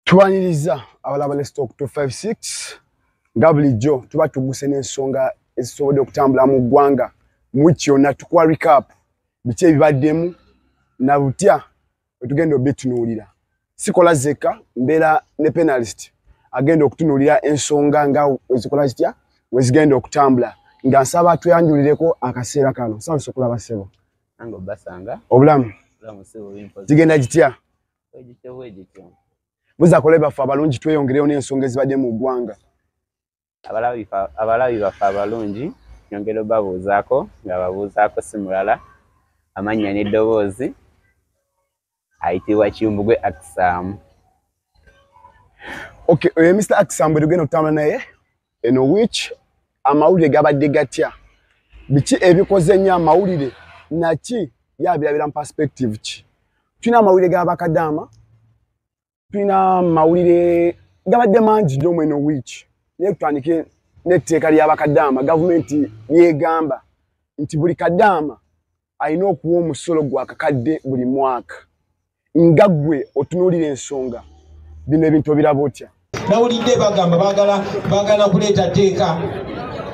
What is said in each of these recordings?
tubaniriza abalaba ne stock 256 nga bulijjo tuba tuguse n'ensonga ezisobodde okutambula mu ggwanga mu wiki yonna tukuwa recap biki ebibaddemu na butya wetugenda obitunuulira sikola zeka mbeera ne penalist agenda okutunuulira ensonga nga ezikola zitya wezigenda okutambula nga nsaba tuyanjulireko akaseera kano saba sokulaba sebo obulamu zigenda gitya buza kola baffe abalungi tweyongereyo n'ensonga ezibadde mu ggwanga abalabi baffe abalungi nyongera obabuuzaako nga babuuzaako si mulala amannya n'eddoboozi ayitibwa kimbugwe akisaamu okay oyo eh, mr akisaamu bwe tugenda okutambula naye eno which amawulire gabadde gatya biki ebikoze nnyo amawulire naki yabirabira mu perspective ki tulina amawulire gabakadaama tulina amawulire gabadde mangi nnyo mweno which naye kutandike n'etteeka lyabakadaama gavumenti lyegamba nti buli kadaama alina okuwa omusolo gwa kakadde buli mwaka nga gwe otunuulira ensonga bino ebintu obiraba otya nawulidde bagamba bagala bagala kuleeta teeka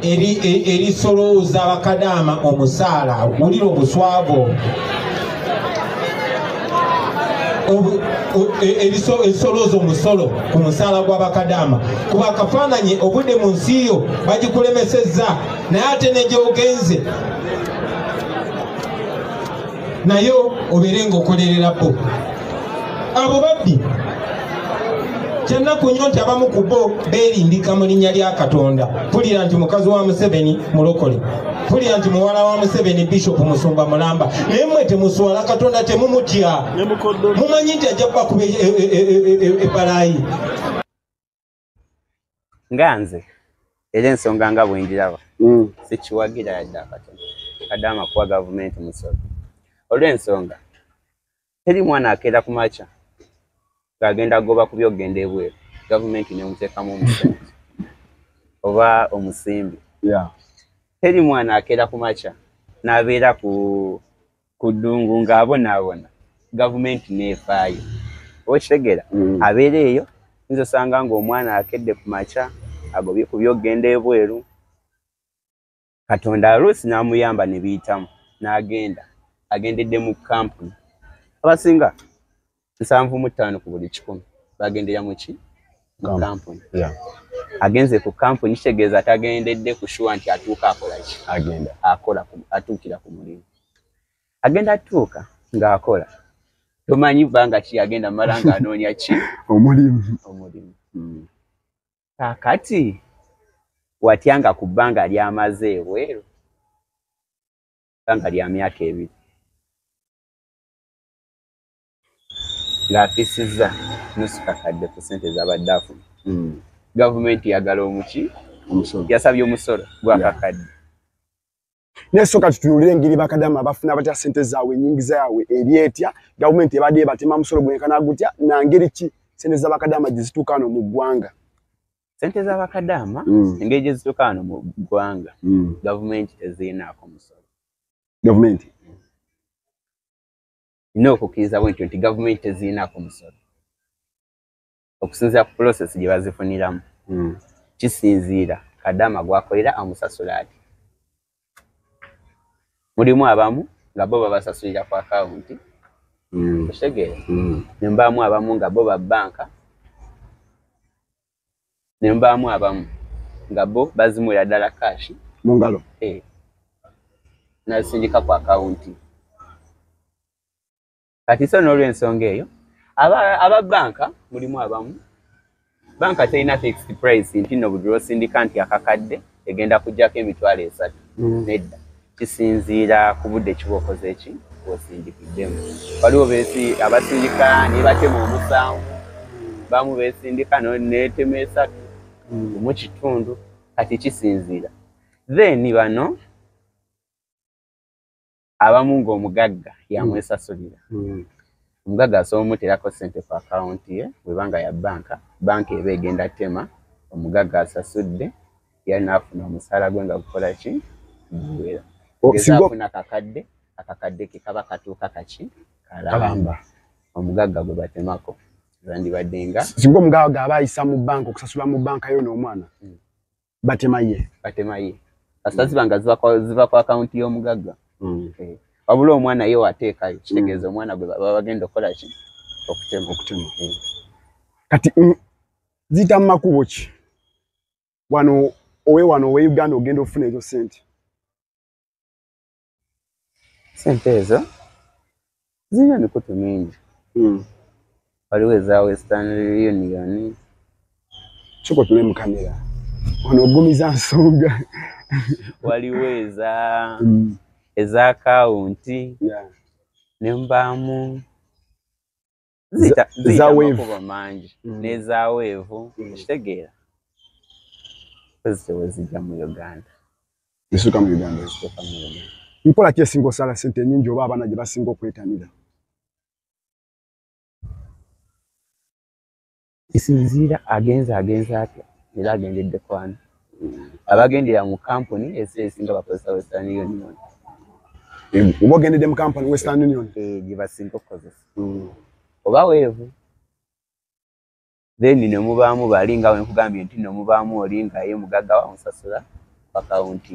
erisolooza e, bakadaama omusaala wulira obuswago ebisolooza e, omusolo ku musaala gwa bakadaama kuba akafaananyi obudde mu nsi yo bagikulemesezza naye ate negyogenze naye obeere nga okolerera bo abo babbi kyennaku nyo nti abamu ku bo beerimbika mu linnya lya katonda pulira nti mukazi wa museveni mulokole pulira nti muwala wa museveni bishopu musumba mulamba naye mwe temuswala katonda temumutya mumanyi nti ajja kubakuba ebbalaayi e, e, e, nga nze era ensonga nga bwengiraba mm. sikiwagira yadde akatono kadde amakuwa gavumenti musolo olw'ensonga teri mwana akeera ku makya ng'agenda goba ku byokugenda ebweru gavumenti nemuteekamu omusente oba omusimbi teri mwana akeera ku makya n'abeera ku ku ddungu ng'abonaabona gavumenti n'efaayo okitegera mm. abeera eyo nza osanga ng'omwana akedde ku makya agobye ku byokugenda ebweru katonda aluusi n'amuyamba ne biyitamu n'agenda agendedde mu kampuni abasinga nsanvu mu ttaano ku buli kikumi bagendera mu ki mu kampuni agenze ku kampuni kitegeeza atagendedde ku shuwa nti atuuka akolaki agenda akola atuukira ku mulimu agenda atuuka ng'akola tomanyi bbanga ki agenda mala nga anoonya ki omulimu omulimu hmm. kakati watya nga ku bbanga lyamaze ebweru bbanga lya myaka ebiri ng'afisizza nusu kakadde ku ssente zabadde afuna hmm. gavumenti yagala omuki yasabye omusolo gwakakadde naye soka tutunulire engeri bakadama bafuna batya ssente zaabwe enyingiza yaabwe eri etya gavumenti ebadde ebatema musolo gwenkana gutya nangeri ki ssente zabakadama gye zituuka ano mu ggwanga ssente zabakadama hmm. engeri gye zituuka ano mu ggwanga hmm. gavumenti tezirinaako musolo gavumenti nina okukkiriza bwe ntyo nti gavumenti tezirinaku musolo okusinziira ku pulosesi gye bazifuniramu hmm. kisinziira kadama gwakolera amusasula ati mulimu abamu nga bo babasasulira ku akawunti hmm. okitegeera hmm. nembaamu abamu nga bo ba bbanka ne mbaamu abamu nga bo bazimuwera ddala kaashi mu ngalo eh. nazisindika ku akawunti kati so n'olwensonga eyo aba banka mulimu abamu banka terina fixed price nti no budula osindika nti akakadde egenda kujjako emitwalo esatu mm. nedda kisinziira ku budde kiba okoze eki osindikiddemu waliwo besi abasindika nebatema omusanvu bamu besindika netema esatu mm. mu kitundu kati kisinziira then bano abamu ng'omugagga yamwesasulira hmm. hmm. omugagga asobola omuteerako ssente ku akawunti ye bweba nga ya bbanka bbanka eba egenda tema omugagga asasudde yali naafuna omusaala gwe nga gukola ki guwera oh, afuna kakadde akakadde ke kaba katuuka kaki kalamba omugagga gwe batemako zandibadde nga singa omugagga aba ayisa mu bbanka okusasula mu bbanka yo n'omwana hmm. batema ye batema ye kasita mm. ziba nga ziva ku akawunti y'omugagga mm. eh, wabula omwana ye wateekayo mm. kitegeeza omwana gwe baba bagenda okukola ki okutema okutema eh. kati ziyita mu makubo ki wano owe wano owe uganda ogenda okufuna ezo sente sente ezo zirina emikutu mingi hmm. waliwo eza western union soka otule mu kamera ono ogumiza nsonga waliwo eza hmm. eza akawunti nembaamu ziyita Za- ziyita za wave. amakubo mangi Mm. n'ezaweevu Mm. okitegeera zitewe zijja mu uganda zisuka mu uganda ziteeka mu uganda nkola ki esinga osala sente enyingi oba abaana gye basinga okwetanira kisinziira agenze agenze atya era agendedde kwana abagendera mu kampuni esinga bakozesa western union oba ogendedde mu kampuni western union eh, gyebasinga okukozesa hmm. oba weevu then nemubaamu bali nga wenkugambye nti nomubaamu oli nga ye mugagga wamusasula akawunti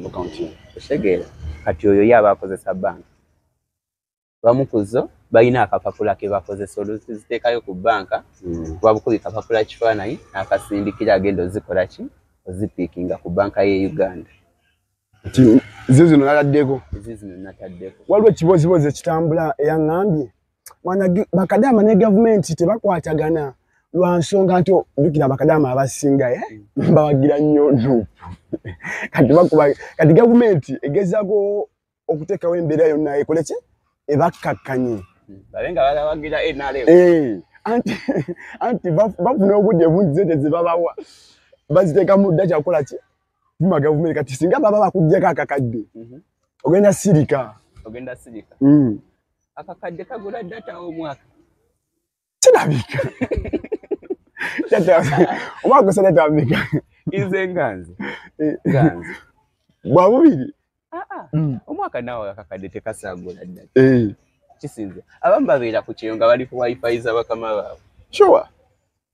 otegeera kati oyo ye aba akozesa banka bamu ku zo balina akapapula ke bakozesa oluziteekayo ku bbanka hmm. kuba bukubi kapapula kifaananyi n'akasindikira agenda ozikola ki ozipiikinga ku bbanka y'e uganda zo zino nataddeko ezo zino nataddeko waliwo ekibozibozi ekitambula eyaŋŋambye bakadaama ne gavumenti tebakwatagana lwa nsonga nti jukira bakadaama abasinga eh? hmm. bawagira nnyo nupu kati gavumenti egezaako okuteekawo embeera yonna ekole ki ebakkakkanye eh, anti bafuna obudde bungi zente zebabawa baziteeka mu dda kyakukola ki tuma gavumenti kati singa baba bakuggyako akakadde mhm. ogenda sirika ogenda sirika mm. akakadde kagula data omwaka kirabika omwaka gusa tatambika nze nga nze eh. nga nze bwa bubiri ah, ah. mm. omwaka naawe akakadde tekasangula ddala eh. kisinze abamu babeera ku kyeyo nga bali ku wifi za bakama baabwe sure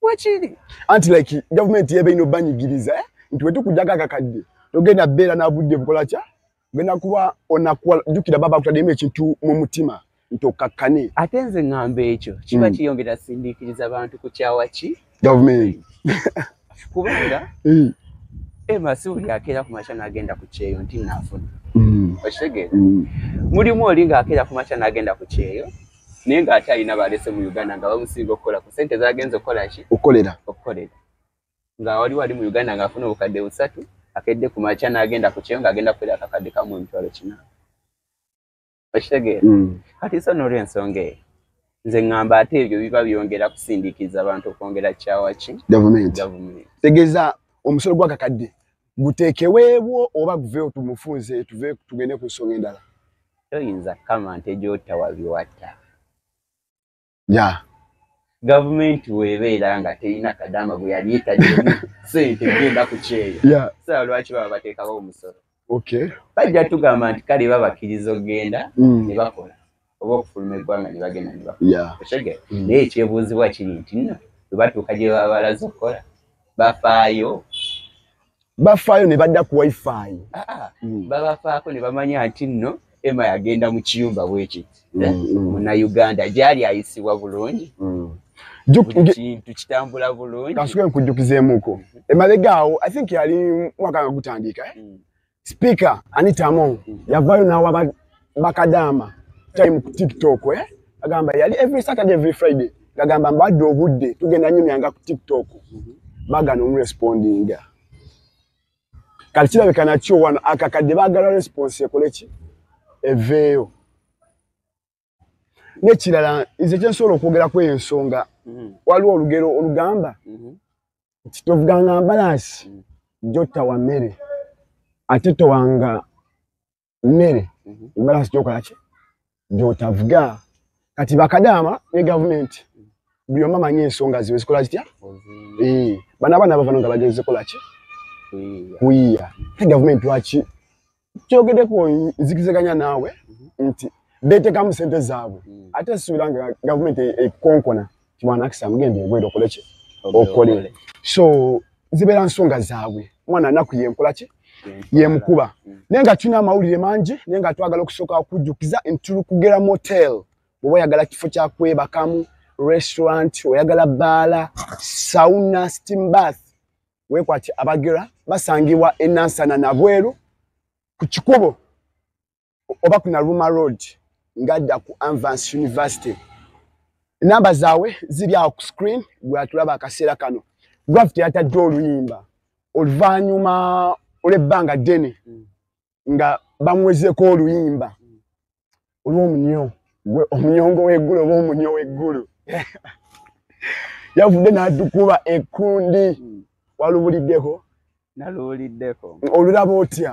wakiri anti like gavumenti yeba ino banyigiriza eh? nti wetukujako akakadde togenda beera nabudde bukola kya genda kuba onakuwa jukira baba akutademu ekintu mu mutima nti okakkane ate nze ŋŋamba ekyo kiba mm. kiyongera sindiikiriza bantu ku kyawa ki gavumenti kubanga mm. ema si buli akeera ku makya n'agenda ku kyeyo nti naafuna mm. okitegeera mulimu oli ng'akeera ku makya n'agenda ku kyeyo naye ng'ate alina balese mu uganda nga bamusinga okukola ku sente zagenza okukola ki okukolera okukolera nga wali wali mu uganda ngaafuna obukadde busatu akedde ku makya n'agenda ku kyeyo ng'agenda kubeera akakadde kamu emitwalo kina okitegeera mm. kati so n'olwensonga eyo nze ŋŋamba ate ebyo biba byongera kusindiikiriza abantu okwongera kyawa ki gavumenti gavumenti tegeeza omusolo gw'akakadde guteekeweebwo oba guveewo tumufunze tuve tugende ku nsonga endala toyinza kukama nte gy'otta wabiwatta ya gavumenti webeera nga terina kadaama gwe yali etademu sente genda ku kyeyo sala lwaki baba bateekawo omusolo bajja tugamba nti kale babakkiriza okugenda mm. ne bakola oba okufuluma eggwanga ne bagenda ne bakola mm. naye ekyebuuzibwa kiri nti nno bwe batuuka gye baba balaze okukola bafaayo bafaayo ne badda ku wifi ah, ah. mm. babafaako ne bamanya nti nno ema yagenda mu kiyumba bwekiti mm, eh, mm. munauganda gyali ayisibwa bulungi kintu kitambula bulungi kansuke nkujjukizeemuko mm-hmm. emabega awo i think yali mwaka nga gutandika eh? sipiika anitamo yavaayo nawa bakadaama time ku tiktok eh? agamba yali every saturday every friday ngagamba mbadde obudde tugenda nyumyanga ku tiktok bagana omurespondinga kati kirabika nakyo wano akakadde bagala response ekoleki eveeyo nekirala nze kyensobola okwogera kweyo ensonga mhm. waliwo olugero olugamba mhm. nti tovuganga mbalaasi mhm. jotta wa mmere ate towanga mmere mhm. embalasi gyokolaki gyotavuga kati bakadaama ne gavumenti buli omu amanyi ensonga ziwe zikola zitya eh, bana abaana bavano nga bagenze kolaki kuyiya te gavumenti lwaki kyogedeko nzikizeganya naawe mhm. nti betekamu sente zaabwe mhm. ate suubira nga gavumenti ekonkona kimwana akisa mugende ngwero okoleki okole so zibeera nsonga zaabwe omwana anaku yenkola ki yemukuba mm. naye nga tulina amawulire mangi naye nga twagala okusooka okujjukiza nti tuli kugera motel bwoba oyagala kifo kyakwebakamu restaurant oyagala baala sauna steam bath wekwati abagera basangibwa enansana nabweru ku kikubo oba ku naluma road ngadda ku anvance university enamba zaabwe ziri awo ku screen gwatulaba akaseera kano gravity yatadde oluyimba oluvannyuma olw'ebbanga ddene nga bamuwezeko oluyimba olw'omunyo gwe omunyongo w'eggulu oba omunyo w'eggulu yavudde n'adukuba ekkundi walubuliddeko naluwuliddeko olulaba otya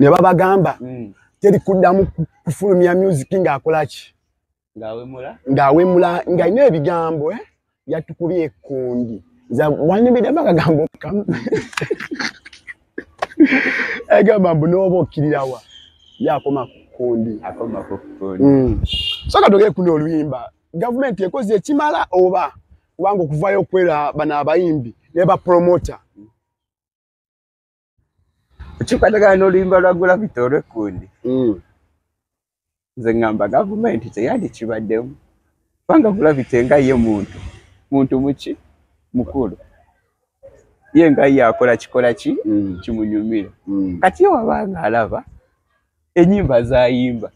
ne babagamba mm. teri kuddamu kufulumya music ng'akolaki ng'awemula ng'alina ebigambo eh? yatukubye ekundi nza wanyumidemu akagambo kamu egamba mbu n'oba okkirirawa yakoma ku kundi mm. so ka togere kuno oluyimba gavumenti ekoze ekimala oba kubanga okuvayo okwera bano abayimbi ne bapromota okikwatagana n'oluyimba lwa gulavita olwekkundi hmm. nze ŋŋamba gavumenti teyandikibaddemu kubanga gulavita enga ye muntu muntu muki mukulu ye nga ye akola kikola ki hmm. kimunyumira hmm. kati ye wabanga alaba enyimba zayimba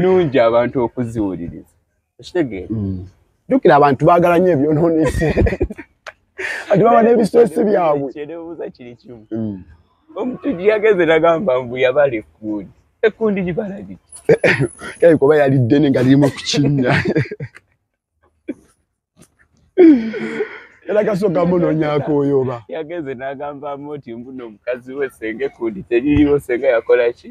nungi abantu okuziwuliriza ekitegeera mm. jukira abantu bagala nyo ebyononese ati baba nebistresi byabwe kyerebuza kiri kimu mm. omuntu gyeyageze nagamba mbu yabala ekundi ekundi gibala giki yayi kuba yali ddene nga lirimu kukinya era kasooka munonyako oyo oba yageze nagambamu nti mbuno omukazi we senga ekundi teririwo senga yakola ki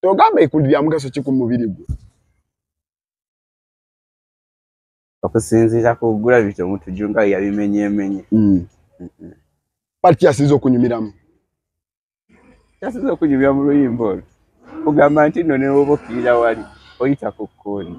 togamba ekuli lya mugaso ki ku mubiri gwe okusinziira ku gula bito omuntu junga yabimenyemenye mm. pati kyasinza okunyumiramu kyasinza okunyumira mu luyimba olwo kugamba nti no newoba okkirira wali oyita ku kkundi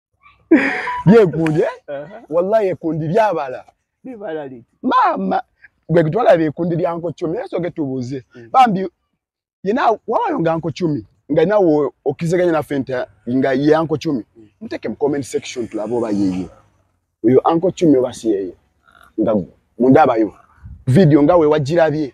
byekundi eh? wallahi ekundi byabala maama gwe gitwalaba ekundi lya nkocumi era soge tubuuze mm. bambi yena wawayo nga nkocumi nga nawe okizeganya naffe nti nga ye ankocumi mm. muteke mu comment section tulabe oba yeye oyo ankocumi oba si yeye nga mundabayo vidiyo nga wewagirabye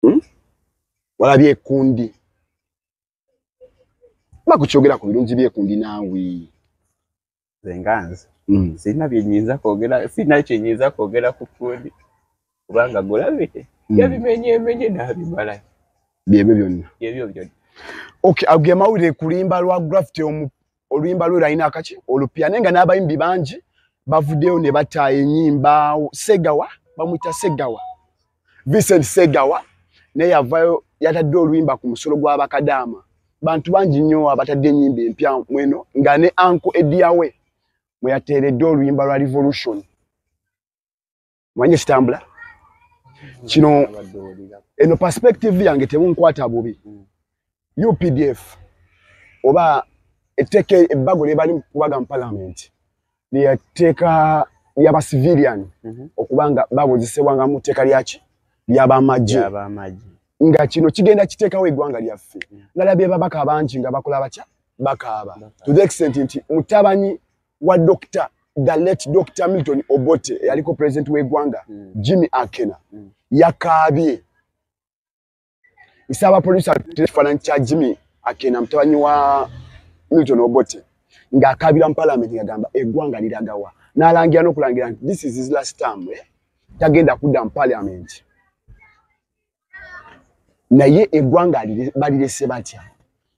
hmm? walabye ekundi bakukyogera ku birungi byekundi naawe zenganze hmm. sirina byenyinza kwogera sirina kyenyinza kwogera ku kundi kubanga gulabite hmm. yabimenyemenye nabimala byebyo byonna byebyo byonna okay ago amawulire kulimba lwa grafiti omu oluyimba lwe lwalina akaki olupya naye nga n'abayimbi bangi bavuddeyo ne bata enyimba segawa bamuyita segawa vincent segawa naye yavayo yatadde oluyimba ku musolo gw'abakadaama bantu bangi nnyo abatadde enyimba empya mweno nga ne anko ediyawe mwe yateeredde oluyimba lwa revolution manye kitambula kino eno perspective yange tebunkwata bubi updf oba etteeka ebbago lyebali kubaga mu parliament lyetteeka lyaba civilian mhm. okuba nga babuzisebwanga mu tteeka lyaki lyabamagye nga kino kigenda kiteekawo eggwanga lyaffe nalabye babaka bangi nga bakola batya bakaaba to the extent nti mutabanyi wa Dr. the late Dr. Milton Obote eyaliko president w'eggwanga mm. Jimmy Akena mm. yakaabye nsaba poliisi atera ekifaananyi kya Jimmy Akena mutabani wa Milton Obote ng'akaabira mu palamenti ngagamba eggwanga liragawa n'alangira n'okulangira nti this is his last term eh? tagenda kudda mu palamenti naye eggwanga balirese batya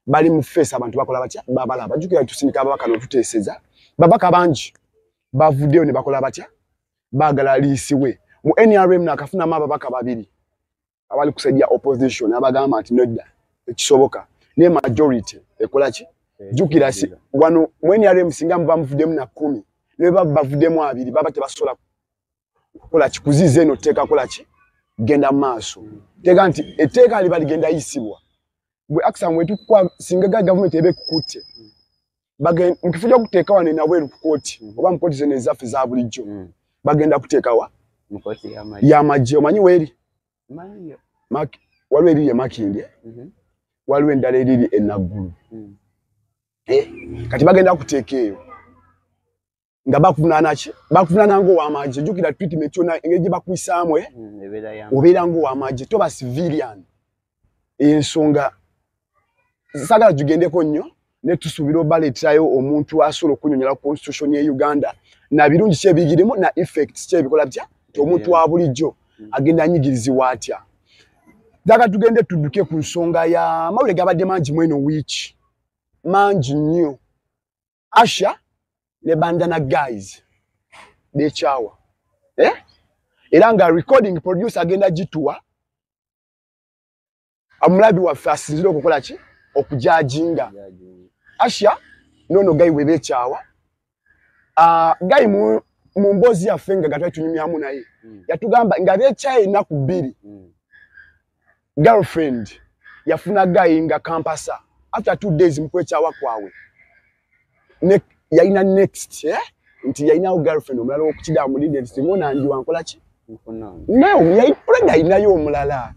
bali mu feesi abantu bakola batya babalaba jukira tusindika ababaka notuteeseza babaka bangi bavuddeyo ne bakola batya baagala liisiwe mu nrm nakafunamu ababaka babiri abali kusaidia opposition abagamba nti nedda ekisoboka naye majority ekola ki jukira si wano mu nrm singa muba muvuddemu na kumi nebaba bavuddemu abiri baba tebasobola kola kikuziza eno tteeka kola ki genda maaso teeka nti etteeka liba ligenda yisibwa gwe akisa mwetukwa singa ga gavumenti eba ekukutte mukifo kyokuteeka wano enabweru kukooti oba mukooti zeno ezaffe za bulijjo mm. bagenda kuteekawa yamagye omanyi weeri waliwo eriri emakindi eh? mhm. waliwo endala eriri enaggulu mm. eh, kati bagenda kuteeka eyo nga bakuvunaana ki bakuvunaana ngaowamagye jukira treatment yona engeri gye bakuyisaamu eh? mm, obeera ngaowamagye toba civilian ensonga sagala tugendeko nnyo naye tusuubira obaleetayo omuntu asobola okunyonyola constitution ye uganda na birungi kyebigirimu na effect kyebikola bya ti omuntu wa bulijjo mm. agenda anyigirizibwa atya daga tugende tudduke ku nsonga ya mawulire gabadde mangi mweno wiiki mangi nnyo asha ne bandana guys bekyawa eh? era nga recording producer agenda gituwa amulabi waffe asinzire okukola ki okujajinga asha nono gayi webekyawa uh, ah, gayi mu mu mboozi yaffe nga gatwali tunyumyamu naye hmm. yatugamba nga bekyaye ennaku bbiri hmm. girlfriend yafuna guy nga kampasa after two days mukwekyawa kwawe yalina next eh? nti yalinawo girlfriend omulala wokukidaa mulinde nti simona ndi wankola ki nayipred alinayo omulala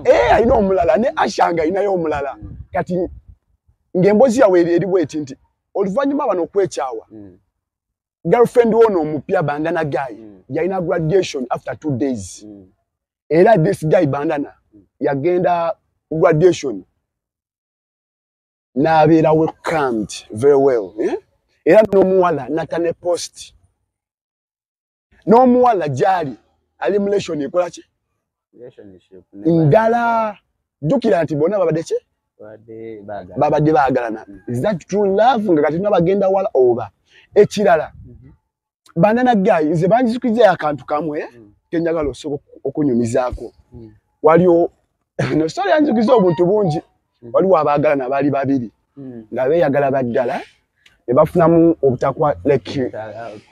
eh, alina omulala ne ashanga alinayo omulala hmm. kati ngaembozi yawe eriwo eti nti oluvanyuma bano okwekyawa hmm. girlfriend wono omupya bandana guy mm. yalina graduation after two days mm. era this guy bandana yagenda graduation nabeera welcomed very well eh? era n'omuwala nata ne post n'omuwala gyali ali mulation ekola ki ndala jjukira nti bona babadde ki babadde baagalana is that true love nga kati nabagenda wala oba ekirala mm -hmm. banana guy nze banjizikwiza akantu kamwe eh? mm. kenyagala osobola okunyumizaako mm. waliwo no story yanjikiza obuntu bungi mm. waliwo abaagala nabaali babiri mm. nga beeyagala baddala ne bafunamu obutakwa like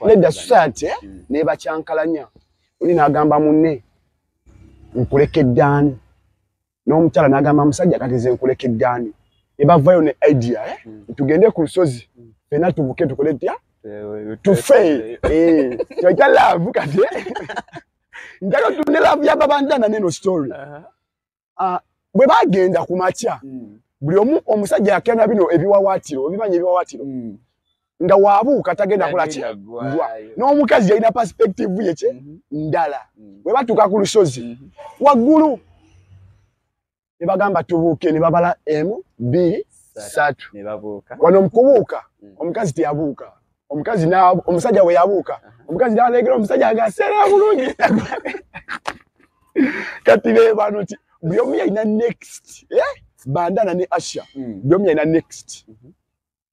nedda society eh? mm. nebakyankalanya oli naagamba munne nkulekeddaani n'omukyala n'agamba musajja kati ze nkuleke ddaani ne bavayo ne idea eh? hmm. tugende ku lusozi hmm. fena tubuke tukole tya eh, tufe eh, kyoita laavu kati njalo tune laavu yababandana neno story uh-huh. ah, bwe bagenda ku makya hmm. buli omu omusajja yakena bino ebiwawaatiro obimanyi ebiwawaatiro nga wabuuka tagenda kola ki n'omukazi yalina perspective ye ki mhm. ndala mhm. bwe batuuka ku lusozi mhm. waggulu ne bagamba tubuuke ne babala emu bbiri satu wano mukubuuka mm. omukazi teyabuuka omukazi omusajja we yabuuka omukazi naleegera omusajja nga seera bulungi kati be bano ti buli omu yalina next eh? bandana ne asha mm. buli omu yalina next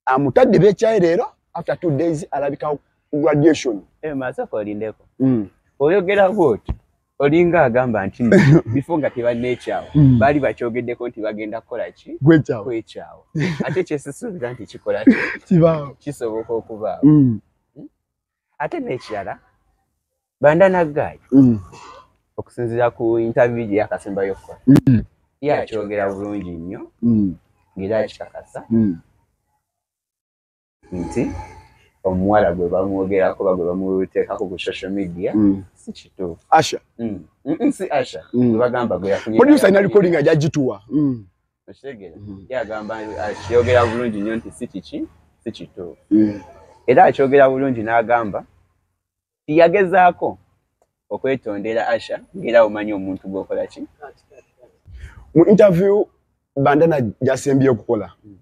amutadde bekyayi leero after two days alabika graduation eh, masoko olindeko mm. oyogera bwoti olinga agamba nti bifo nga tebanekyawo mm. baali bakyogeddeko nti bagenda kukola ki kwekyawo ate kyesisuubira nti kikola kisoboka okubaawo mm. ate n'ekirala banda naggaayi mm. okusinzira ku intaviyu gye yakasembayo okukola mm. ye akyogera bulungi nnyo mm. ngeri akikakasa nti omuwala gwe bamwogerako ba gwe bamuteekako ku social media si kituufu asha si asha gwe bagamba gwe yafunye producer ina recording ajagituwa okitegera mm. yagamba akiyogera uh, bulungi nnyo nti si kiki si kituufu mm. era akyogera bulungi n'agamba tiyagezaako okwetondera asha ngaera omanyi omuntu gwokola ki mu interview bandana gyasembye okukola mm.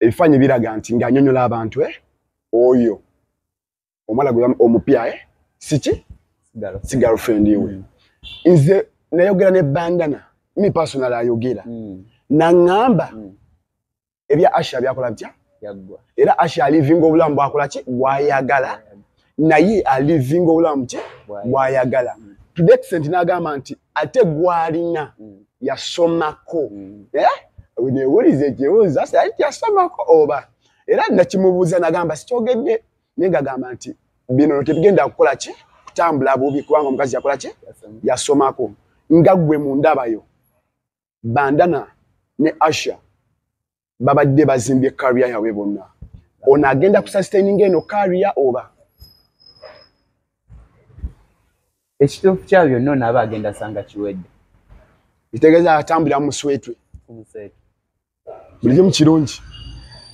ebifaanyi biraga nti ng'anyonyola abantu eh? oyo omwana gwe omupya eh? siki si girlfriend we mm. nze nayogera ne bandana mi personal ayogera mm. nangamba mm. ebya asha byakola bitya era asha alivinga obulamu bwakola ki bwayagala naye alivinga obulamu ki bwayagala mm. to the extent nagamba nti ate gwalina mm. yasomako mm. eh? newuliza ekibuuzo ati yasomako oba era nakimubuuza nagamba sikyogedde naye ngagamba nti bino tetugenda kukola ki kutambula bubi kubanga omukazi yakola ki yasomako nga gwe mu ndabayo bandana ne asha babadde bazimbye kariya yabwe bonna ono agenda kusastaininga eno kariya oba ekituufu kya byonna ono aba agenda sanga kiwedde kitegeeza atambulira muswetwe buli kimu kirungi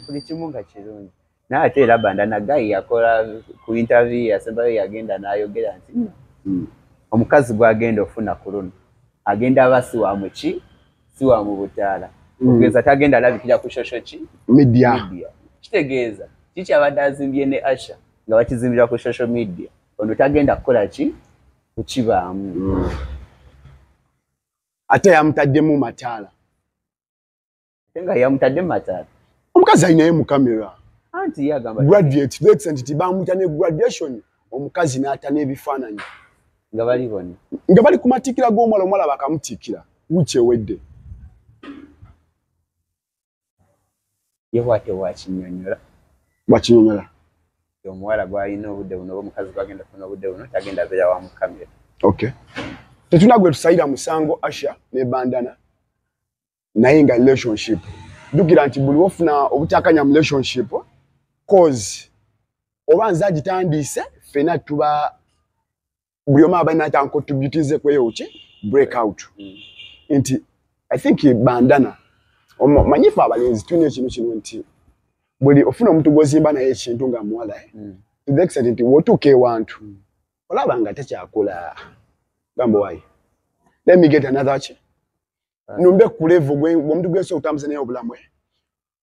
buli kimu nga kirungi naye ate era banda nagayi yakola ku interview yasembayo yagenda nayogera nti hmm, hmm. omukazi gwagenda ofuna ku luno agenda aba si wa muki si wa mu butaala hmm. okugeza tagenda alabikira ku shosho ki media kitegeeza kiki abadde azimbye ne asha nga bakizimbira ku social media ono tagenda kukola ki kukibaamu ate yamutaddemu mataala nga yamutadde mataala omukazi alinaye mu kamera anti yagamba graduate to the extent nti bamuta ne graduation omukazi n'ata n'ebifaananyi nga bali bona nga bali ku matikkira g'omuwala omuwala bakamutikkira wiiki ewedde ye bwate wakinyonyola wakinyonyola omuwala gwalina obudde buno oba omukazi gwagenda kufuna obudde buno tagenda abeera wa mukamera okay tetuna gwe tusayira musango asha ne bandana naye nga relationship jukira nti buli wofuna obutakanya mu relationship cause oba nze agitandiise fena tuba buli omu aba alina kyankotributize kweyoki break out mm. nti i think bandana manyifu abalenzi tulina ekintu kino nti buli ofuna omuntu gwozimba naye ekintu nga muwala eh? mm. to the extent nti wotuuka ewantu mm. olaba nga tekyakula gambo wayi let me get another ki numbe kulevu gwomuntu gwensi okutambuza naye obulamu eh?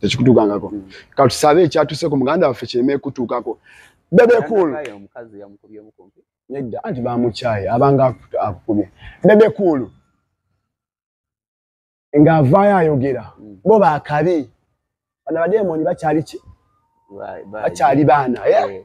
tekikutuukangako mm. katusabe ekyatuseku muganda waffe kireme ekutuukako bebekul nedda anti bamukyaye abanga akukubye bebekulu ng'avaayo ayogera mm. bo bakabi bana bademoni bakyali ki bakyali baana eh?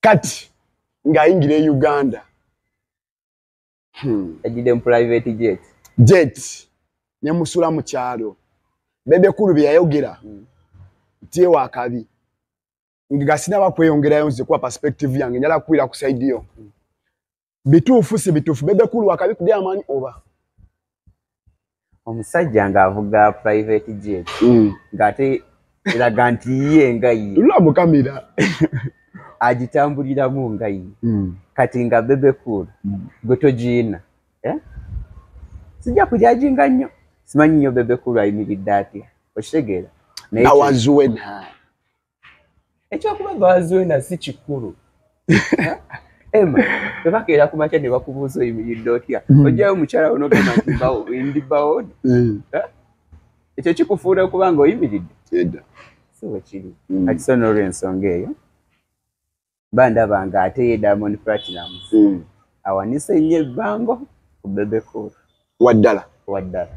kati ng'ayingira e uganda hmm. ejjidde mu private jet jet ne musula mu kyalo bebekulu bye yayogera hmm. nti ewa akabi nga sinaba kweyongerayo nze kuba perspective yange njala kukwira ku saidi yo hmm. bituufu si bituufu bebe kulu akabikudde amaanyi oba omusajja ng'avuga private jet mm. ng'ate eraga nti ye nga ye lulamukamira agitambuliramu nga ye mm. kati nga bebe kulu mm. gwe togiina eh? sijja kujajinga nnyo simanyi nnyo bebe kulu ayimiridde atya okitegeera nawanzuwe naani ekyokuba bazwena si kikulu ema bebakeera ku makya ne bakubuuza oyimiridde otya hmm. ojjayo omukyala wo nogamba nti bawo ndi bawo hmm. ekyo kikufuula okuba nga oyimiridde si wekiri hmm. ati so n'olwensonga eyo mba ndaba nga ate ye diamond platinum mm. awanise nnyo ebbango ku bebecool waddala waddala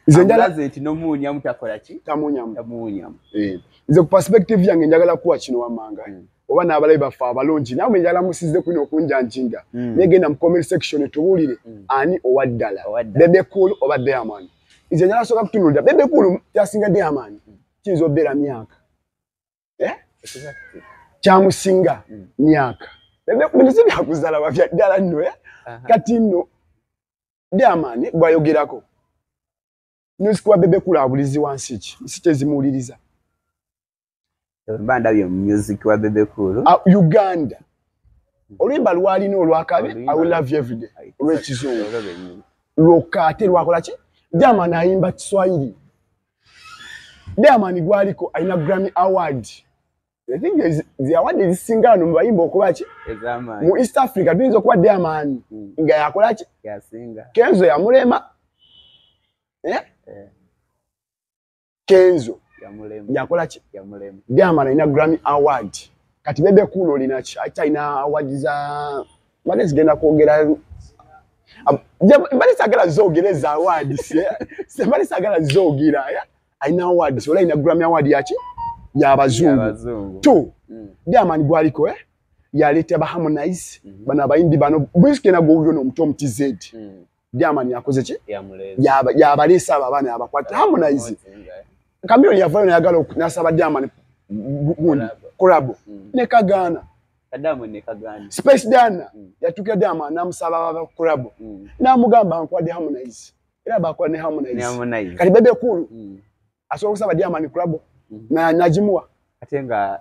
nze nti nomuunyamu takola ki tamuunyamu tamuunyamu eh. nze ku perspective yange njagala kuwa kino wamanga mm. oba n'abalabi baffe abalungi nawe njala musize kwina okunjanjinga mm. negenda mu comment section tubuulire mm. ani owa ddala bebe cool oba diamond nze njala soka kutunulira bebe cool kyasinga diamond kiyinza obeera myaka eh? kyamusinga mm. myaka binosi byakuzala wafya ddala nno eh? kati nno diamani gwayogerako nosikuwa bebe kulabulizi wansi ki nsi kyezimuwuliriza mba ndabye mumusik wa bebe kulu ah, uganda oluyimba lwalina olwakabi i will love you everyday olwekizungu lwokka ate lwakola ki jama nayimba kiswahili Diamond gwaliko alina Grammy Award. I think there is the award is singa no bayimba okuba ki? Ezama. Mu East Africa binzo kwa Diamond mm. nga yakola ki? Ya singa. Kenzo ya mulema. Eh? Eh. Kenzo ya mulema. Yakola ki? Ya mulema. Diamond alina Grammy Award. Kati bebe kuno lina ki? Aita ina award za mbadde zigenda kwogera mbadde sagala zogera eza awards mbadde sagala zogera alina awards ola alina grammy award yaki yabazungu t mm. diamani gwaliko eh? yaleeta baharmonize mm-hmm. bano abayimbi bano bwezigenda gwowuliro nomuto omutizedi mm. German yakoze ki? Yabalisa abo abaana yabakwata Harmonize. Chameleone yavayo nayagala nasaba German gundi collabo mm. ne kagaana. Kadamu ne kagaana. Space Dana mm. yatukira Dama namusaba aba collabo. Mm. Namugamba nkwade Harmonize. Era bakola ne Harmonize. Ne Harmonize. Kati bebe kulu. Mm. Asobola kusaba German collabo. Mm. Na najimuwa. Atenga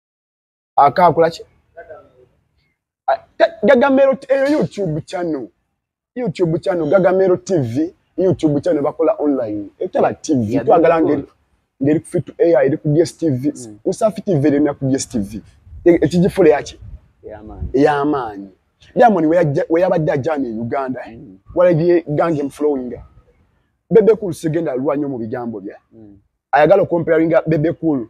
akaakula ki gagamero eyo eh, youtube channel youtube channel gagamero tv youtube channel bakola online etaba tv twagala ngeri ngeri ku fit ai eri ku dstv mm. usafi tv eri na ku dstv e, ekijifule yaki eyamaanyi diamond weyabadde ajana e uganda eh? mm. walabye gange mflowing bebekulu sigenda alwanyo mu bigambo bya mm. ayagala okomparinga bebekulu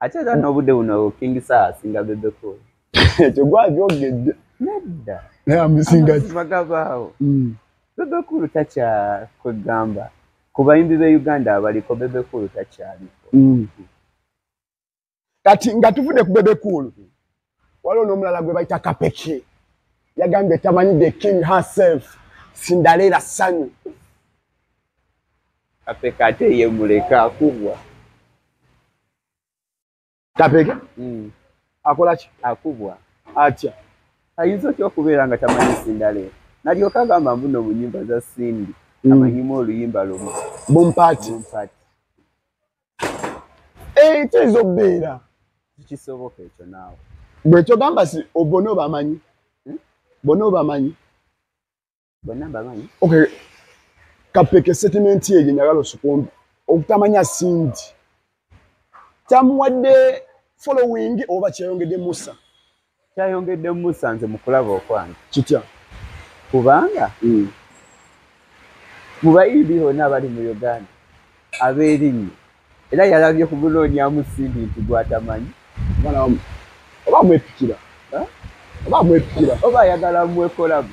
ate era n'obudde buno king saa asinga bebeko ekyo gwakyogedde nedda naye amusinga magabaawo mm. bebekulu takyakwegamba ku bayimbi be uganda abaliko bebekulu takyaliko mm. kati nga tuvudde ku bebekulu waliwo n'omulala gwe bayita kapeki yagambye tamanyi the king herself sindaleera sanyu kapeka ate ye muleka akubwa kapeke mm. akola ki akubwa atya ayinza otya okubeera nga tamanyi sindaleera nalyoka agamba mbuno mu nyimba za sindi mm. amanyimu oluyimba lumu bompati ente ezo beera kisoboka ekyo naawe bwe kyogamba si obona obamanyi hmm? bona obamanyi bona bamanyi okay kapeke settlement eyo njagala osukumbi okutamanya sindi tamuwadde following oba kyeyongedde musa kyayongedde musa nze mukulaba okwange kitya kubanga mm. mu bayimbi bonna abali mu uganda abeerinnyo era yalabye ku gunoonyamu simbi nti gwatamanyi oba mwepikira oba mwepikira oba ayagala mwekolamu